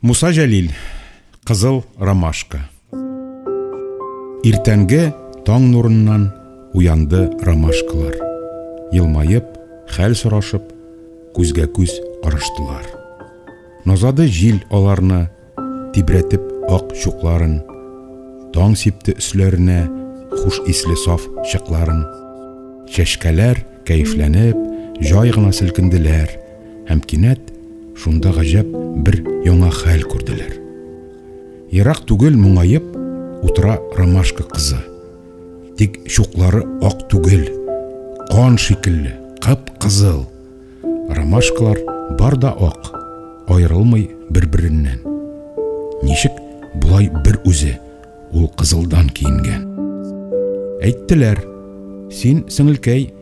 Муса Җәлил, Кызыл ромашка. Иртәнге таң нурыннан уянды ромашкалар. Елмаеп, хәл сорашып, күзгә күз караштылар. Назады җил аларны, тибрәтеп ак чукларын. Таң сипте өсләренә хуш исле саф чыкларын. Чәчкәләр кәефләнеп, җай гына селкенделәр. һәм кинәт шунда гаҗәп бер яңа хәл күрделәр. Ерак түгел моңаеп утыра ромашка кызы. Тик чуклары ак түгел, кан шикелле, кып-кызыл. Ромашкалар бар да ак, аерылмый бер-береннән. Ничек болай бер үзе ул кызылдан киенгән? Әйттеләр, син, сеңелкәй,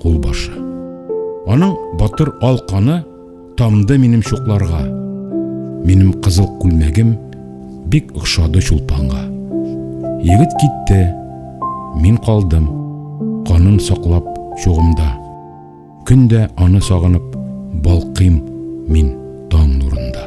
кулбашы. Аның батыр ал каны тамды минем чукларга. Минем кызыл күлмәгем бик охшады чулпанга. Егет китте, мин калдым, канын саклап чугымда. Көн дә аны сагынып балкыйм мин таң нурында.